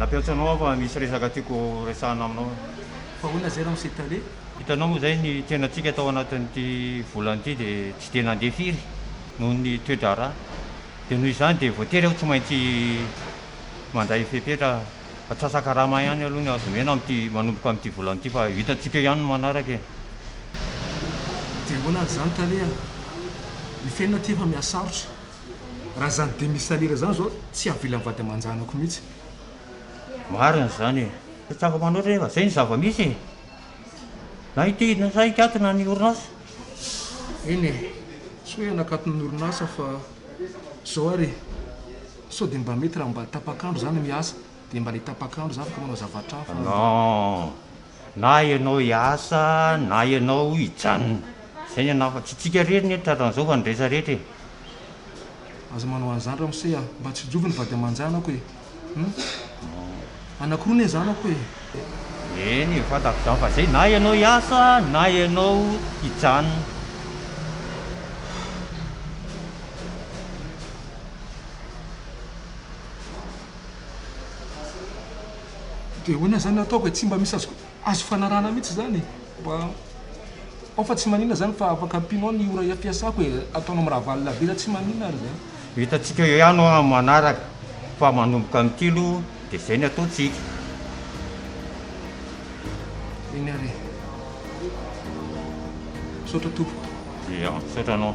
Nampiantso anao aho fa misy resaka tiako horesahana aminao. Fa ahoana izay raha msy tale? Hitanao moa izay ny tenantsika tao anatin'ity volana ity dia tsy dia nandeha firy noho ny toe-draharaha. Dia noho izany dia voatery aho tsy maintsy mandray fepetra atsasakarama ihany aloha ny azo omena amin'ity manomboka amin'ity volana ity fa hitantsika eo ihany ny manaraka e. Dia ahoana ary izany tale a? Ny fiainana aty efa mihasarotra. Raha zany demisalira zany zao tsy avila mivady amanjanako mihitsy. Marina izany e! Tsy tsy afaka manoatra nefa izay no zava-misy e! Na ity na sa hikatona ny orinasa. Eny e! Tsy hoe hanakatona ny orinasa fa zao ary e! Sao dia mba mety raha mba tapak'andro izany ny asa? Dia mba le tapak'andro za afaka manao zavatra hafa an. Non! Na ianao hiasa na ianao hijanona. Zay ny anah fa tsy tsika rery ny eto tratran'izao fa ny resa rehetra e. Aza manao an'izany ramose a! Mba tsy diovy ny vady aman-janako e! Hum! Anankiroa ne zanako e! Eny e, fantako izany fa zay na ianao hiasa na ianao hijanona. De ahoana izany no ataoko e, tsy mba misy azo azo fanarahana mihitsy izany e, mba ao fa tsy maninona izany fa afaka ampianao ny ora ampiasako e, ataonao miravalina be raha tsy maninona ary izany. Hitantsika eo ihany ho'a manaraka fa manomboka amin'ity aloha dia izay no ataontsika. Eny ary e. Misaotra tompoko. Dia misaotra anao.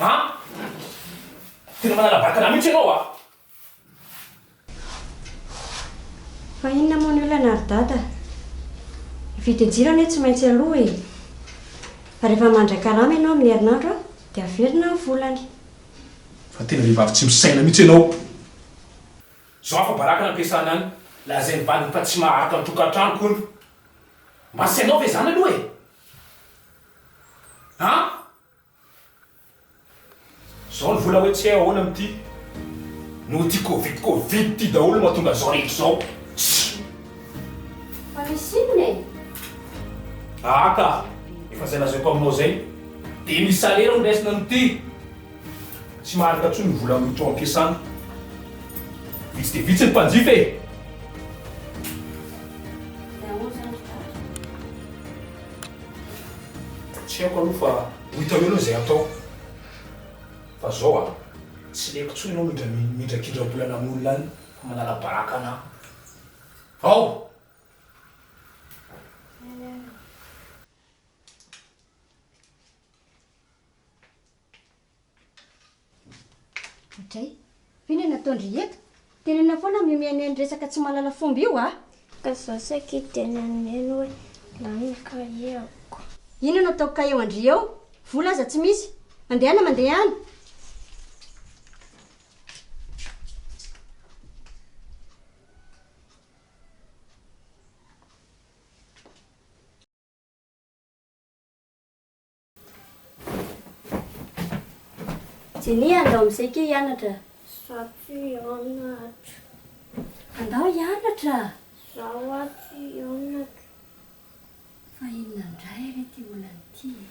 A! Tena manana vatana mihitsy ianao a! Fa inona moa ny olana ary dada? Ny vidin-jiro anie tsy maintsy aloa e! Fa rehefa mandray karama ianao amin'ny herinandro dia averina ny volany. Fa tena vehivavy tsy misaina mihitsy ianao! Zao afa-baraka no ampiasana any, lazain'ny vadiny fa tsy maharitra ny tokantranoko hono. Mba asianao ve izany aloha e! An! Zao ny vola hoe tsy hay ahoana amty noho ty covid covid ty daholo no mahatonga zao rehetra zao. Tsy. Fa misy inona e? Aa ka! Efa zay lazaiko aminao zay de misy salaire no raisina amty tsy maharaka tsony ny vola miditra ao ampiasana. Vitsy dia vitsy ny mpanjifa e! Tsy haiko aloha fa ho hitanao aloha izay hatao. Fa zao a, tsy leko intsony ianao midra midrakidra-bolana amin'olona any fa manala baraka anà. Ao! Dray, ve no nataon-dry eto? Tenenina foana mihomehy ny resaka tsy mahalala fomba io a! Ka za saky dia naneno hoe lany ny kahie-ko. Inona no ataoko ka eo an-dry eo? Vola aza tsy misy. Andehana mandeha ihany. Jenny, andao amin'izay kay hianatra. Za tsy hianatra. Andao hianatra. Za hoa tsy hianatra. Fa inona indray re ity olana ity e?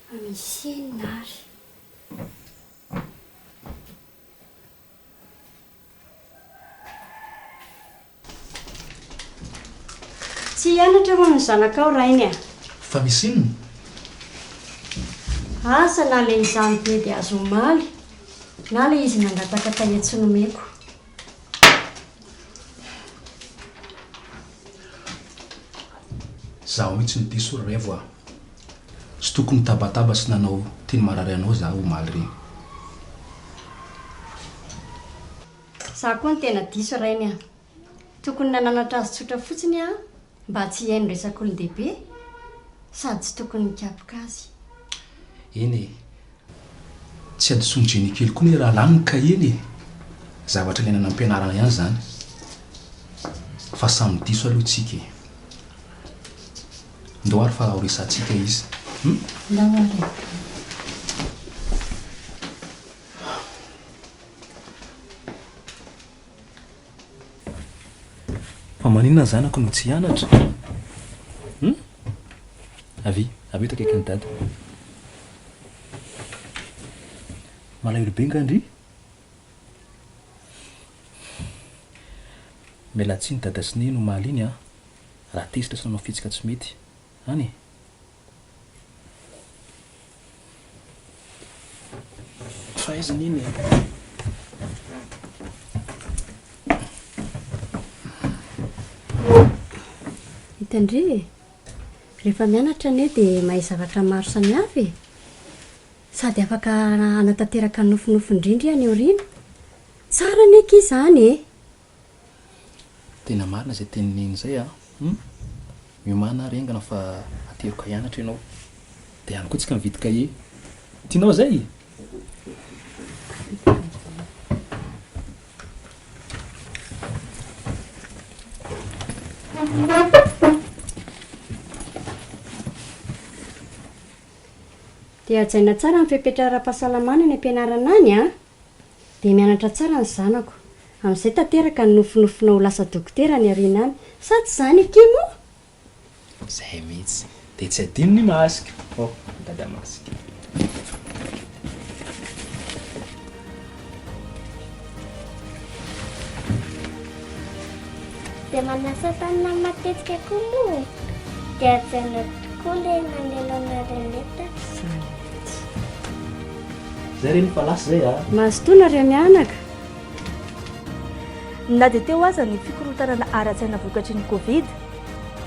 Fa misy inona ary? Tsy hianatra hono ny zanakao rainy a! Fa misy inona? Asa na le izaho nibedy azy omaly na le izy nangataka kahie tsy nomeko. Zaho mihitsy no diso ry Revo a! Tsy tokony nitabataba sy nanao teny marary anao zaho omaly reny. Za koa no tena diso rainy a! Tokony nananatra azy tsotra fotsiny aho mba tsy hihaino resak'olon-dehibe sady tsy tokony nikapoka azy. Eny e! Tsy hadisoan'i Jennikely koa ny rahalahy ny kahieny e! Zavatra ilaina any am-pianarana ihany izany fa samy diso aloha tsika e! Ndao ary fa horesahantsika izy hum! Ndao ary e! Fa maninona ny zanako no tsy hianatra? Hum? Avia, avia eto akaikin'i Dada. Malahelo be nga ndry? Miala tsiny Dada sy Neny omaly iny an, raha tezitra sy nanao fihetsika tsy mety. Any e. Faiza anie ny Hitandria e. Rehefa mianatra anie dia mahay zavatra maro samihafa e. Sady afaka hanatanteraka ny nofinofiny indrindra any aoriana. Tsara anie akia izany e. Tena marina izay tenin'i Neny izay a! Hum! Miomàna ary haingana fa ateriko ahianatra ianao. Dia any koa tsika mividy kahie. Tianao izay? Dia hajaina tsara ny fepetra ara-pahasalamana any am-pianarana any a! Dia mianatra tsara ny zanako. Amin'izay tanteraka ny nofinofinao ho lasa dokotera any aoriana any. Sa tsy izany akia moa? Izay mihitsy. Dia tsy adino ny masque. Oh, dada masque. Dia manasa tanana matetika koa moa e. Dia hajaina tokoa ilay mamelona renette. Izany mihitsy. Zay reny fa lasa zay a. Mazotoa nareo mianaka. Na dia teo aza ny fikorontanana ara-tsaina vokatry ny Covid,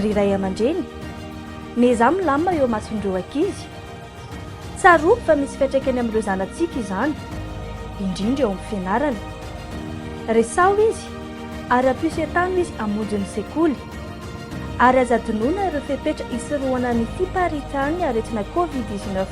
ry ray aman-dreny, miezaha milamina eo imason'ireo ankizy. Tsarovy fa misy fiantraikany amin'ireo zanatsika izany, indrindra eo amin'ny fianarana. Resaho izy ary ampiso entano izy hamonjy ny sekoly. Ary aza adinoina ireo fepetra hisorohana ny fiparitahan'ny aretina Covid dix-neuf.